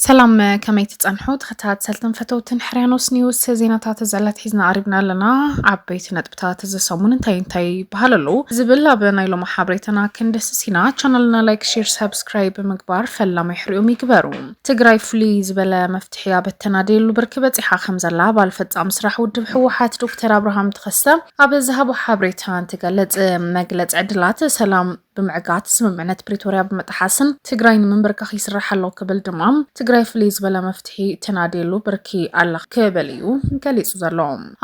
ሰላም ከመይ ትጸንሑ ተኸታተልትን ፈተውትን ሕርያኖስ ኒውስ ዜናታት ዘላት ሒዝና ኣሪብና ኣለና ዓበይቲ ነጥብታት እዚ ሰሙን እንታይ እንታይ ይበሃል ኣለዉ ዝብል ኣብ ናይ ሎማ ሓበሬታና ክንደስስ ኢና ቻናልና ላይክ ሼር ሰብስክራይብ ብምግባር ፈላማይ ሕሪኦም ይግበሩ ትግራይ ፍሉይ ዝበለ መፍትሒ ኣበተናደየሉ ብርኪ በፂሓ ከም ዘላ ባል ፈፃሚ ስራሕ ውድብ ህወሓት ዶክተር ኣብርሃም ተኸስተ ኣብ ዝሃቦ ሓብሬታ እንትገልፅ፣ መግለፂ ዕድላት ሰላም ብምዕጋት ስምምዕነት ፕሪቶርያ ብምጥሓስን ትግራይ ንምምብርካኽ ይስራሕ ኣሎ ክብል ድማ ትግራይ ፍልይ ዝበለ መፍትሒ ተናድየሉ ብርኪ ኣላ ክብል እዩ ገሊፁ ዘሎ።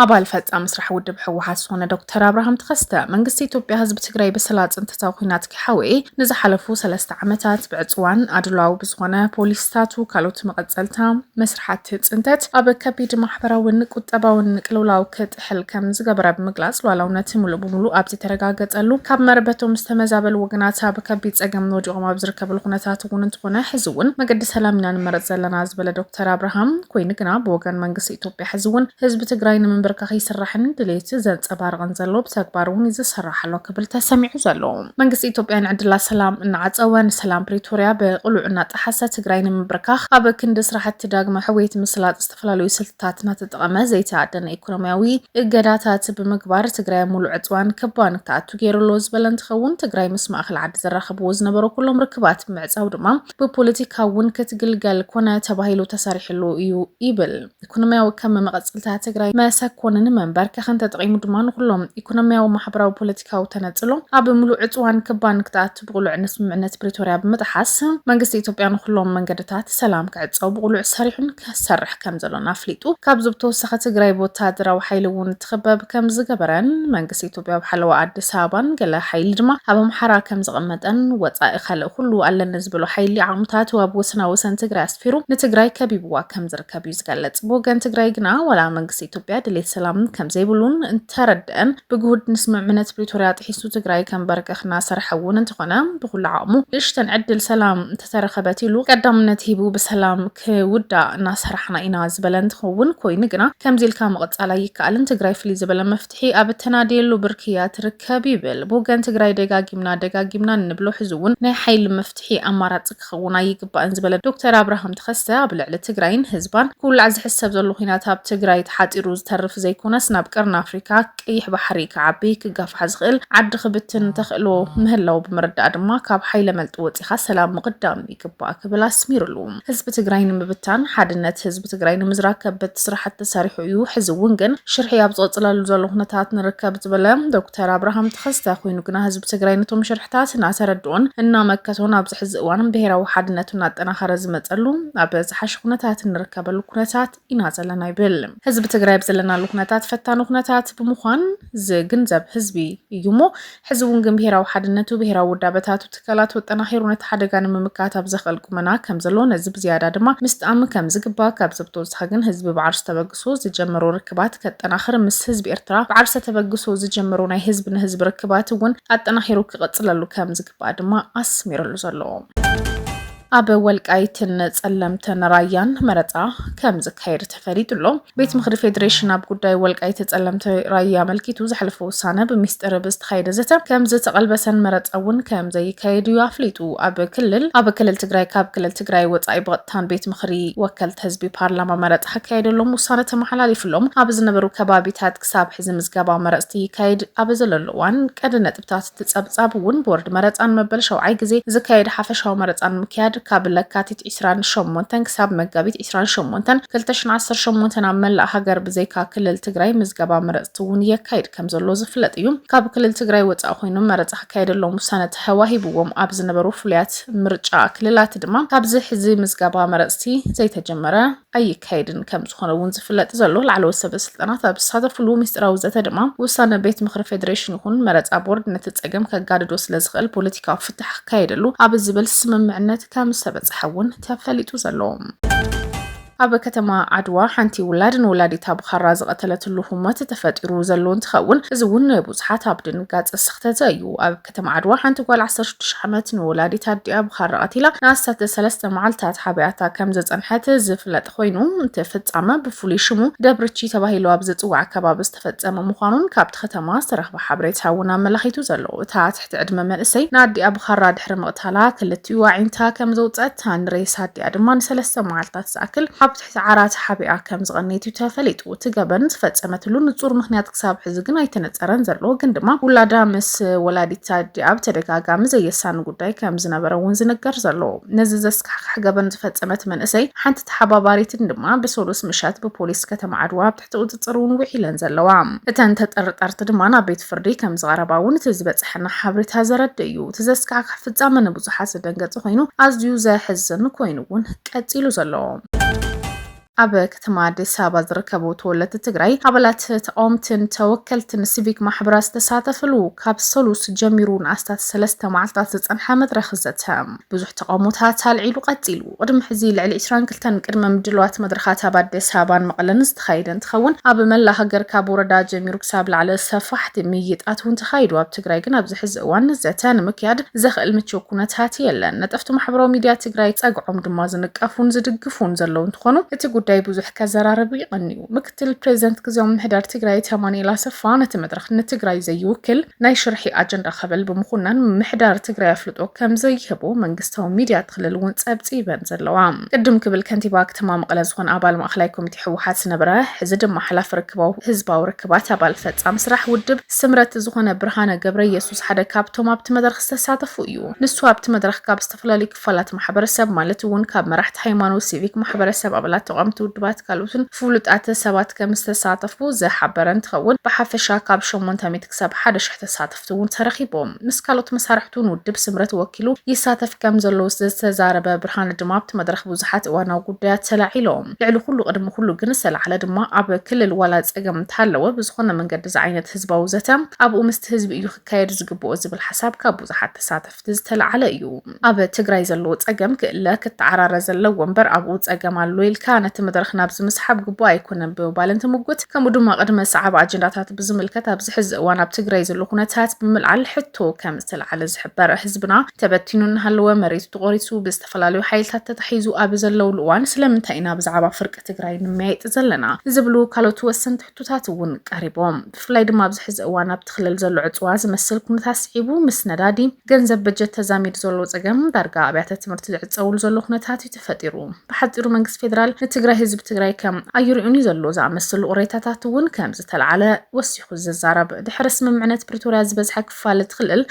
ኣባል ፈፃሚ ስራሕ ውድብ ህወሓት ዝኾነ ዶክተር ኣብርሃም ተኸስተ መንግስቲ ኢትዮጵያ ህዝቢ ትግራይ ብሰላ ፅንተታዊ ኲናት ከይሓወየ ንዝሓለፉ ሰለስተ ዓመታት ብዕፅዋን ኣድሏዊ ብዝኾነ ፖሊሲታቱ ካልኦት መቐፀልታ መስርሓት ፅንተት ኣብ ከቢድ ማሕበራዊን ቁጠባዊን ቅልውላው ክትጥሕል ከም ዝገበረ ብምግላጽ፣ ሉኣላውነት ምሉእ ብምሉእ ኣብ ዘይተረጋገጸሉ፣ ካብ መረበቶም ዝተመዛበሉ ወገናት ኣብ ከቢድ ጸገም ወዲቖም ኣብ ዝርከብሉ ኩነታት እውን እንተኾነ ሕዚ እውን መገዲ ሰላም ኢና ንመርጽ ዘለና ዝበለ ዶክተር ኣብርሃም፣ ኮይኑ ግና ብወገን መንግስቲ ኢትዮጵያ ሕዚ እውን ህዝቢ ትግራይ ንምምብርካኽ ይስራሕን ድሌት ዘንጸባርቕን ዘሎ ብተግባር እውን ይዝሰራሕ ኣሎ ክብል ተሰሚዑ ዘሎ መንግስቲ ኢትዮጵያ ንዕድላት ሰላም እናዓጸወ ንሰላም ፕሪቶርያ ብቕሉዕ እናጠሓሰ ትግራይ ንምብርካኽ ኣብ ክንዲ ስራሕቲ ዳግመ ሕውየት ምስላጥ ዝተፈላለዩ ስልትታት ታት እናተጠቐመ ዘይተኣደነ ኢኮኖሚያዊ እገዳታት ብምግባር ትግራይ ኣብ ሙሉእ ዕፅዋን ከበባን ክኣቱ ገይሩ ኣሎ ዝበለ እንትኸውን ትግራይ ምስ ማእኸል ዓዲ ዘራኽብዎ ዝነበሩ ኩሎም ርክባት ብምዕፃው ድማ ብፖለቲካ እውን ክትግልገል ኮነ ተባሂሉ ተሰሪሕሉ እዩ ይብል። ኢኮኖሚያዊ ከም መቐፅልታ ትግራይ መሰኮንን መንበርከኽን ተጠቒሙ ድማ ንኹሎም ኢኮኖሚያዊ፣ ማሕበራዊ፣ ፖለቲካዊ ተነፅሎ ኣብ ሙሉእ ዕፅዋን ከበባን ክትኣቱ እቲ ብቕሉዕ ንስምምዕነት ፕሪቶርያ ብምጥሓስ መንግስቲ ኢትዮጵያ ንኹሎም መንገድታት ሰላም ክዕፀው ብቕሉዕ ሰሪሑን ክሰርሕ ከምዘሎን ኣፍሊጡ። ካብዚ ብተወሳኺ ትግራይ ብወታደራዊ ሓይሊ እውን እትኽበብ ከምዝገበረን መንግስቲ ኢትዮጵያ ኣብ ሓለዋ ኣዲስ ኣበባን ገለ ሓይሊ ድማ ኣብ ኣምሓራ ከምዘቐመጠን ወፃኢ ካልእ ኩሉ ኣለኒ ዝበሎ ሓይሊ ዓቕምታቱ ኣብ ወሰናወሰን ትግራይ ኣስፊሩ ንትግራይ ከቢብዋ ከምዝርከብ እዩ ዝገለፅ። ብወገን ትግራይ ግና ዋላ መንግስቲ ኢትዮጵያ ድሌት ሰላም ከምዘይብሉን እንተረደአን ብግሁድ ንስምምዕነት ፕሪቶርያ ጥሒሱ ትግራይ ከምበርከኽ እናሰርሐ እውን እንተኾነ ብኩሉ ዓቕሙ ንእሽተን ዕድል ሰላም እንተተረኸበት ኢሉ ቀዳምነት ሂቡ ብሰላም ክውዳእ እናሰራሕና ኢና ዝበለ እንትኸውን ኮይኑ ግና ከምዚ ኢልካ ምቕፃል ኣይከኣልን ትግራይ ፍልይ ዝበለ መፍትሒ ኣብ እተናድየሉ ብርኪ እያ ትርከብ ይብል። ብወገን ትግራይ ደጋጊምና ደጋጊምና እንብሎ ሕዚ እውን ናይ ሓይሊ መፍትሒ ኣማራፂ ክኸውን ኣይግባእን ዝበለ ዶክተር ኣብርሃም ተኸስተ ኣብ ልዕሊ ትግራይን ህዝባን ክውላዕ ዝሕሰብ ዘሎ ኹናት ኣብ ትግራይ ተሓፂሩ ዝተርፍ ዘይኮነስ ናብ ቀርኒ ኣፍሪካ ቀይሕ ባሕሪ ክዓቢ ክጋፋሕ ዝኽእል ዓዲ ክብትን ተኽእሎ ምህላው ብምርዳእ ድማ ካብ ሓይለ መልጢ ወፂኻ ሰላም ምቕዳም ይግባእ ክብል ኣስሚሩሉ። ህዝቢ ትግራይ ንምብታን ሓድነት ህዝቢ ብትግራይ ንምዝራግ ከበድቲ ስራሕቲ ተሰሪሑ እዩ፣ ሕዚ እውን ግን ሽርሒ ኣብ ዝቕፅለሉ ዘሎ ኩነታት ንርከብ ዝበለ ዶክተር ኣብርሃም ተኸስተ ኮይኑ ግና ህዝቢ ትግራይ ነቶም ሽርሕታት እናተረድኦን እናመከቶን ኣብዚ ሕዚ እዋን ብሄራዊ ሓድነቱ እናጠናኸረ ዝመፀሉ ኣብ ዝሓሸ ኩነታት እንርከበሉ ኩነታት ኢና ዘለና ይብል። ህዝቢ ትግራይ ኣብ ዘለናሉ ኩነታት ፈታኒ ኩነታት ብምዃን ዝግንዘብ ህዝቢ እዩ እሞ ሕዚ እውን ግን ብሄራዊ ሓድነቱ፣ ብሄራዊ ውዳበታቱ፣ ትካላቱ ኣጠናኺሩ ነቲ ሓደጋ ንምምካት ኣብ ዘኽእል ቁመና ከም ዘሎ ነዚ ብዝያዳ ድማ ምስጣም ከም ዝግባእ ካብዚ ብተወሳኺ ግን ህዝቢ ብዓርሰ ተበግሶ ዝጀመሮ ርክባት ከጠናኽር ምስ ህዝቢ ኤርትራ ብዓርሰ ተበግሶ ዝጀመሮ ናይ ህዝቢ ንህዝቢ ርክባት እውን ኣጠናኺሩ ክቕጽለሉ ከም ዝግባእ ድማ ኣስሚርሉ ዘሎ። ኣብ ወልቃይትን ጸለምትን ራያን መረፃ ከም ዝካየድ ተፈሊጡ ኣሎ ቤት ምክሪ ፌዴሬሽን ኣብ ጉዳይ ወልቃይት ጸለምቲ ራያ ኣመልኪቱ ዘሕለፈ ውሳነ ብሚስጢር ብዝተካየደ ዘተ ከም ዝተቐልበሰን መረፃ እውን ከም ዘይካየድ እዩ ኣፍሊጡ ኣብ ክልል ኣብ ክልል ትግራይ ካብ ክልል ትግራይ ወፃኢ ብቐጥታን ቤት ምክሪ ወከልቲ ህዝቢ ፓርላማ መረፃ ክካየደሎም ውሳነ ተመሓላሊፍሎም ኣብ ዝነበሩ ከባቢታት ክሳብ ሕዚ ምዝገባ መረፅቲ ይካየድ ኣብ ዘለሉ እዋን ቀዲ ነጥቢ ኣብታ ትጸብጻብ እውን ቦርድ መረጻ ንመበል ሸውዓይ ግዜ ዝካየድ ሓፈሻዊ መረጻ ንምክያድ ካብ ለካቲት ዒስራን ሸሞንተን ክሳብ መጋቢት ዒስራን ሸሞንተን ክልተ ሽሕን ዓሰርተ ሸሞንተን ኣብ መላእ ሃገር ብዘይካ ክልል ትግራይ ምዝገባ መረጽቲ እውን የካይድ ከም ዘሎ ዝፍለጥ እዩ። ካብ ክልል ትግራይ ወጻኢ ኮይኖም መረጻ ክካየደሎም ውሳነ ተዋሂብዎም ኣብ ዝነበሩ ፍሉያት ምርጫ ክልላት ድማ ካብዚ ሕዚ ምዝገባ መረጽቲ ዘይተጀመረ ኣይካየድን ከም ዝኾነ እውን ዝፍለጥ ዘሎ ላዕለዎት ሰበ ስልጣናት ኣብ ዝሳተፍሉ ምስጢራዊ ዘተ ድማ ውሳነ ቤት ምክሪ ፌዴሬሽን ይኹን መረፃ ቦርድ ነቲ ፀገም ከጋድዶ ስለዝኽእል ፖለቲካዊ ፍታሕ ክካየደሉ ኣብ ዝብል ስምምዕነት ከም ዝተበፀሐ እውን ተፈሊጡ ዘሎ ኣብ ከተማ ዓድዋ ሓንቲ ውላድ ንወላዲታ ብኻራ ዝቐተለትሉ ህሞት ተፈጢሩ ዘሎ እንትኸውን እዚ እውን ንብዙሓት ኣብ ድንጋፀ ስኽተተ እዩ። እቲ ማዕድዋ ሓንቲ ጓል ዓሰርተ ሽዱሽተ ዓመት ንወላዲት ኣዲኣ ብኻራ ቀቲላ ንኣስታት ሰለስተ መዓልታት ሓቢኣታ ከም ዘጸንሐት ዝፍለጥ ኮይኑ፣ እቲ ፍጻመ ብፍሉይ ሽሙ ደብርቺ ተባሂሉ ኣብ ዝጽዋዕ ከባቢ ዝተፈጸመ ምዃኑን ካብቲ ከተማ ዝተረኽበ ሓበሬታ እውን ኣመላኺቱ ዘሎ። እታ ትሕቲ ዕድመ መንእሰይ ንኣዲኣ ብኻራ ድሕሪ ምቕታላ ክልቲኡ ኣዒንታ ከም ዘውጸት፣ ሬሳ ኣዲኣ ድማ ንሰለስተ መዓልታት ዝኣክል ኣብ ኪሳዕራ ተሓቢኣ ከም ዝቐነየት'ዩ ተፈሊጡ። እቲ ገበን ዝፈጸመትሉ ንጹር ምኽንያት ክሳብ ሕዚ ግን ኣይተነጸረን ዘሎ፣ ግን ድማ ውላዳ ምስ ወላዲት ኣዲኣ ብተደጋጋሚ ዘየሳኒ ጉዳይ ከም ዝነበረ'ውን ዝንገር ዘሎ። ነዚ ዘስካሕክሕ ገበን ዝፈጸመት መንእሰይ ሓንቲ ተሓባባሪትን ድማ ብሰሉስ ምሸት ብፖሊስ ከተማ ዓድዋ ትሕቲ ቁፅፅር እውን ውዒለን ዘለዋ። እተን ተጠርጠርቲ ድማ ናብ ቤት ፍርዲ ከምዝቐረባ እውን እቲ ዝበፀሐና ሓበሬታ ዘረድእ እዩ። እቲ ዘስካሕክሕ ፍፃመ ንብዙሓት ዘደንገፀ ኮይኑ ኣዝዩ ዘሕዝን ኮይኑ እውን ቀፂሉ ዘሎ። ኣብ ከተማ ኣዲስ ኣበባ ዝርከቡ ተወለድቲ ትግራይ፣ ኣባላት ተቃወምትን ተወከልትን ሲቪክ ማሕበራት ዝተሳተፍሉ ካብ ሰሉስ ጀሚሩ ንኣስታት ሰለስተ መዓልትታት ዝፀንሐ መድረኽ ዘተ ብዙሕ ተቃውሞታት ኣልዒሉ ቀፂሉ። ቅድሚ ሕዚ ልዕሊ ዕስራን ክልተን ቅድመ ምድልዋት መድረኻት ኣብ ኣዲስ ኣበባን መቐለን ዝተኻየደ እንትኸውን ኣብ መላእ ሃገር ካብ ወረዳ ጀሚሩ ክሳብ ላዕሊ ሰፋሕቲ ምይይጣት እውን ተኻይዱ። ኣብ ትግራይ ግን ኣብዚ ሕዚ እዋን ዘተ ንምክያድ ዘኽእል ምችው ኩነታት የለን። ነጠፍቲ ማሕበራዊ ሚዲያ ትግራይ ፀግዖም ድማ ዝንቀፉን ዝድግፉን ዘለዉ እንትኾኑ እቲ ጉዳይ ብዙሕ ከዘራርብ ይቐንዩ። ምክትል ፕሬዚደንት ግዝያዊ ምምሕዳር ትግራይ ኣይተ ኣማኑኤል ኣሰፋ ነቲ መድረኽ ንትግራይ ዘይውክል ናይ ሽርሒ ኣጀንዳ ክብል ብምኹናን ምምሕዳር ትግራይ ኣፍልጦ ከምዘይህቦ መንግስታዊ ሚድያት ክልል እውን ፀብፂበን ዘለዋ። ቅድም ክብል ከንቲባ ከተማ መቐለ ዝኾነ ኣባል ማእኸላይ ኮሚቴ ህወሓት ዝነበረ ሕዚ ድማ ሓላፊ ርክባዊ ህዝባዊ ርክባት ኣባል ፈፃሚ ስራሕ ውድብ ስምረት ዝኾነ ብርሃነ ገብረየሱስ ሓደ ካብቶም ኣብቲ መድረኽ ዝተሳተፉ እዩ። ንሱ ኣብቲ መድረኽ ካብ ዝተፈላለዩ ክፋላት ማሕበረሰብ ማለት እውን ካብ መራሕቲ ሃይማኖት፣ ሲቪክ ማሕበረሰብ፣ ኣባላት ተቓወምቲ ውድባት ካልኡትን ፍሉጣት ሰባት ከም ዝተሳተፉ ዝሓበረ እንትኸውን ብሓፈሻ ካብ ሸሞንተ ሚእቲ ክሳብ ሓደ ሽሕ ተሳተፍቲ እውን ተረኺቦም ምስ ካልኦት መሳርሕቱ ንውድብ ስምረት ወኪሉ ይሳተፍ ከም ዘሎ ዝተዛረበ ብርሃነ ድማ ኣብቲ መድረኽ ብዙሓት እዋናዊ ጉዳያት ተላዒሎም ልዕሊ ኩሉ ቅድሚ ኩሉ ግን ዝተላዕለ ድማ ኣብ ክልል ዋላ ፀገም እንተሃለወ ብዝኾነ መንገዲ ዝዓይነት ህዝባዊ ዘተ ኣብኡ ምስቲ ህዝቢ እዩ ክካየድ ዝግብኦ ዝብል ሓሳብ ካብ ብዙሓት ተሳተፍቲ ዝተላዓለ እዩ ኣብ ትግራይ ዘለዎ ፀገም ክእለ ክተዓራረ ዘለዎ እምበር ኣብኡ ፀገም ኣሎ ኢልካ ነቲ መድረኽ ናብዚ ምስሓብ ግቡእ ኣይኮነን ብምባል እንትምጉት ከምኡ ድማ ቅድመ ሰዓብ ኣጀንዳታት ብዝምልከት ኣብዚ ሕዚ እዋን ኣብ ትግራይ ዘሎ ኩነታት ብምልዓል ሕቶ ከም ዝተላዓለ ዝሕበር ህዝብና ተበቲኑ እናሃለወ መሬቱ ተቖሪሱ ብዝተፈላለዩ ሓይልታት ተታሒዙ ኣብ ዘለውሉ እዋን ስለምንታይ ኢና ብዛዕባ ፍርቂ ትግራይ ንመያየጥ ዘለና ዝብሉ ካልኦት ወሰንቲ ሕቶታት እውን ቀሪቦም። ብፍላይ ድማ ኣብዚ ሕዚ እዋን ኣብቲ ክልል ዘሎ ዕፅዋ ዝመስል ኩነታት ስዒቡ ምስ ነዳዲ፣ ገንዘብ በጀት ተዛሚዱ ዘሎ ፀገም ዳርጋ ኣብያተ ትምህርቲ ዝዕፀውሉ ዘሎ ኩነታት እዩ ተፈጢሩ። ብሓፂሩ መንግስቲ ፌዴራል ንትግራይ ህዝቢ ትግራይ ከም ኣይሪኦን እዩ ዘሎ ዝኣመስሉ ቅሬታታት እውን ከምዝተልዓለ ወሲኹ ዝዛረብ። ድሕሪ ስምምዕነት ፕሪቶሪያ ዝበዝሐ ክፋል እቲ ክልል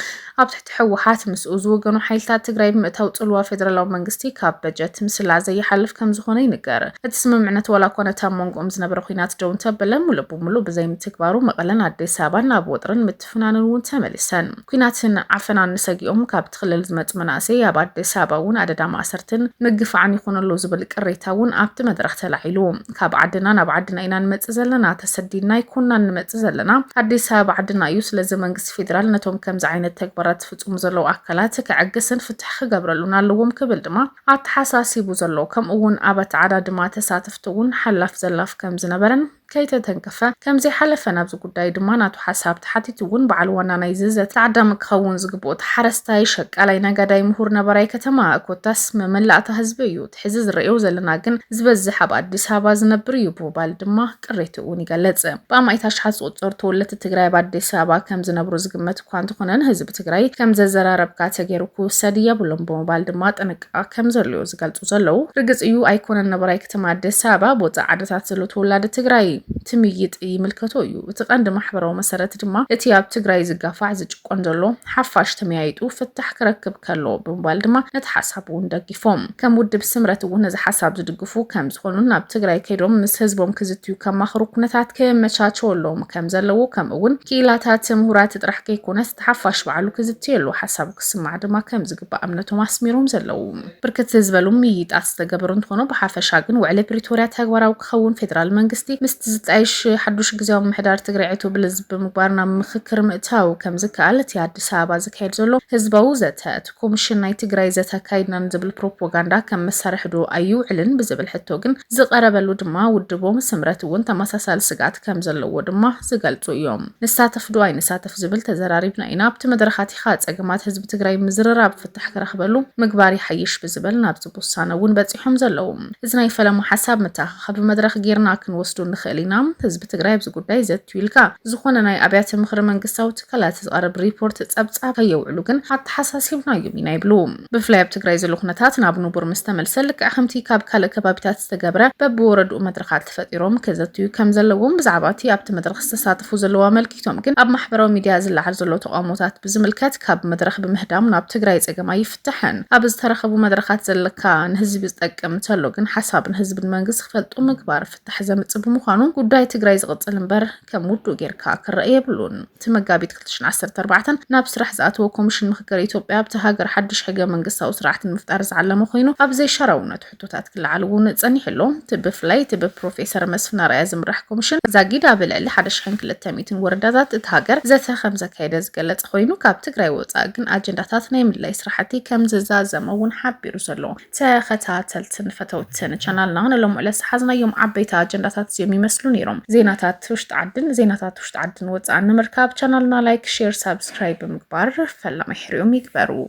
ኣብ ትሕቲ ህወሓት ምስኡ ዝወገኑ ሓይልታት ትግራይ ብምእታው ፅልዋ ፌደራላዊ መንግስቲ ካብ በጀት ምስላ ዘይሓልፍ ከምዝኾነ ይንገር። እቲ ስምምዕነት ዋላ እኳ ነቲ ኣብ መንጎኦም ዝነበረ ኹናት ደው እንተበለ ሙሉእ ብሙሉእ ብዘይምትግባሩ መቐለን ኣዲስ ኣበባን ናብ ወጥርን ምትፍናንን እውን ተመሊሰን ኲናትን ዓፈናን ሰጊኦም ካብ እቲ ክልል ዝመፁ መናእሰይ ኣብ ኣዲስ ኣበባ እውን ኣደዳ ማእሰርትን ምግፋዕን ይኹን ኣሎ ዝብል ቅሬታ እውን ኣብቲ መድረኽ ተላዒሉ። ካብ ዓድና ናብ ዓድና ኢና ንመፅእ ዘለና፣ ተሰዲድና ኣይኮናን ንመፅእ ዘለና፣ ኣዲስ ኣበባ ዓድና እዩ፣ ስለዚ መንግስቲ ፌዴራል ነቶም ከምዚ ዓይነት ተግባራት ዝፍፅሙ ዘለዉ ኣካላት ከዕግስን ፍትሒ ክገብረሉን ኣለዎም ክብል ድማ ኣተሓሳሲቡ ዘሎ። ከምኡ እውን ኣብ ኣተዓዳድማ ተሳተፍቲ እውን ሓላፍ ዘላፍ ከምዝነበረን ከይተተንከፈ ከምዘይሓለፈን ኣብዚ ጉዳይ ድማ ናቱ ሓሳብ ተሓቲቱ እውን በዓል ዋና ናይዚ ዘተ ተዓዳሚ ክኸውን ዝግብኦ እቲ ሓረስታይ፣ ሸቃላይ፣ ነጋዳይ፣ ምሁር፣ ነባራይ ከተማ ኮታስ መመላእታ ህዝቢ እዩ። እቲ ሕዚ ዝረእዮ ዘለና ግን ዝበዝሕ ኣብ ኣዲስ ኣበባ ዝነብር እዩ ብምባል ድማ ቅሬትኡ እውን ይገልፅ። ብኣማኢት ኣሽሓት ዝቑፀሩ ተወለድቲ ትግራይ ኣብ ኣዲስ ኣበባ ከምዝነብሩ ዝግመት እኳ እንተኾነን ህዝቢ ትግራይ ከምዘዘራረብካ ተገይሩ ክውሰድ የብሉን ብምባል ድማ ጥንቃ ኣፍሪቃ ከም ዘሎዮ ዝገልጹ ዘለዉ። ርግጽ እዩ ኣይኮነን ነባራይ ከተማ ኣዲስ ኣበባ ብወጻኢ ዓድታት ዘሎ ተወላዲ ትግራይ ትምይጥ ይምልከቶ እዩ። እቲ ቀንዲ ማሕበራዊ መሰረት ድማ እቲ ኣብ ትግራይ ዝጋፋዕ ዝጭቆን ዘሎ ሓፋሽ ተመያይጡ ፍታሕ ክረክብ ከሎ ብምባል ድማ ነቲ ሓሳብ እውን ደጊፎም። ከም ውድብ ስምረት እውን ነዚ ሓሳብ ዝድግፉ ከም ዝኾኑን ናብ ትግራይ ከይዶም ምስ ህዝቦም ክዝትዩ ከማኽሩ ኩነታት ክመቻቸወሎም ከም ዘለዎ ከምኡ እውን ክኢላታት ምሁራት ጥራሕ ከይኮነስ እቲ ሓፋሽ ባዕሉ ክዝትየሉ ሓሳብ ክስማዕ ድማ ከም ዝግባእ እምነቶም ኣስሚሮም ዘለዉ። ብርክት ዝበሉ ምይይጣት ዝተገበሩ እንትኾኑ ብሓፈሻ ግን ውዕሊ ፕሪቶርያ ተግባራዊ ክኸውን ፌደራል መንግስቲ ምስቲ ዝጣየሽ ሓዱሽ ግዝያዊ ምምሕዳር ትግራይ ዕቱብ ብልዝብ ብምግባር ናብ ምኽክር ምእታው ከም ዝከኣል እቲ ኣዲስ ኣበባ ዝካየድ ዘሎ ህዝባዊ ዘተ እቲ ኮምሽን ናይ ትግራይ ዘተ ኣካይድና ንዝብል ፕሮፖጋንዳ ከም መሳርሒ ዶ ኣይውዕልን ብዝብል ሕቶ ግን ዝቐረበሉ ድማ ውድቦም ስምረት እውን ተመሳሳሊ ስግኣት ከም ዘለዎ ድማ ዝገልፁ እዮም። ንሳተፍ ዶ ኣይንሳተፍ ዝብል ተዘራሪብና ኢና ኣብቲ መድረኻት ፖለቲካ ፀገማት ህዝቢ ትግራይ ምዝርራብ ፍታሕ ክረኽበሉ ምግባር ይሓይሽ ብዝብል ናብዚ ውሳነ እውን በፂሖም ዘለዉ። እዚ ናይ ፈለማ ሓሳብ መተኣኻኸቢ መድረኽ ገይርና ክንወስዶ ንኽእል ኢና። ህዝቢ ትግራይ ኣብዚ ጉዳይ ዘትዩ ኢልካ ዝኾነ ናይ ኣብያተ ምኽሪ መንግስታዊ ትካላት ዝቐርብ ሪፖርት ፀብፃብ ከየውዕሉ ግን ኣተሓሳሲብናዮም ኢና ይብሉ። ብፍላይ ኣብ ትግራይ ዘሎ ኩነታት ናብ ንቡር ምስ ተመልሰ ልክዕ ከምቲ ካብ ካልእ ከባቢታት ዝተገብረ በብወረድኡ መድረኻት ፈጢሮም ከዘትዩ ከምዘለዎም ብዛዕባ እቲ ኣብቲ መድረኽ ዝተሳተፉ ዘለዉ ኣመልኪቶም። ቲቶም ግን ኣብ ማሕበራዊ ሚድያ ዝለዓል ዘሎ ተቃውሞታት ብዝምልከት ካብ መድረኽ ብምህዳም ናብ ትግራይ ፀገም ኣይፍታሕን ኣብ ዝተረኸቡ መድረኻት ዘለካ ንህዝቢ ዝጠቅም እንተሎ ግን ሓሳብ ንህዝቢ ንመንግስቲ ክፈልጡ ምግባር ፍታሕ ዘምፅእ ብምዃኑ ጉዳይ ትግራይ ዝቕፅል እምበር ከም ውዱእ ጌርካ ክረእ የብሉን እቲ መጋቢት ክልተ ሽሕን ዓሰርተ ኣርባዕተ ናብ ስራሕ ዝኣተወ ኮሚሽን ምክክር ኢትዮጵያ ኣብታ ሃገር ሓዱሽ ሕገ መንግስታዊ ስርዓት ንምፍጣር ዝዓለመ ኮይኑ ኣብ ዘይሻራውነቱ ሕቶታት ክለዓል እውን ጸኒሑ ኣሎ። እቲ ብፍላይ እቲ ብፕሮፌሰር መስፍን ኣርኣያ ዝምራሕ ኮሚሽን ዛጊድ ኣብ ልዕሊ ሓደ ሽሕን ክልተ ሚእትን ወረዳታት እታ ሃገር ዘተ ከምዘካየደ ዝገለጸ ኮይኑ ካብ ትግራይ ወጻኢ ግን ኣጀንዳታት ናይ ምድላይ ስራሕቲ ከምዝዛዘመ እውን ሓቢሩ ዘሎ ተኸታተልትን ፈተውትን ቻናልና ንሎሚ ዕለት ዝሓዝናዮም ዓበይቲ ኣጀንዳታት እዚኦም ይመስሉ ነይሮም። ዜናታት ውሽጢ ዓድን ዜናታት ውሽጢ ዓድን ወጻእን ንምርካብ ቻናልና ላይክ፣ ሼር፣ ሳብስክራይብ ብምግባር ፈላማይ ሕርኦም ይግበሩ።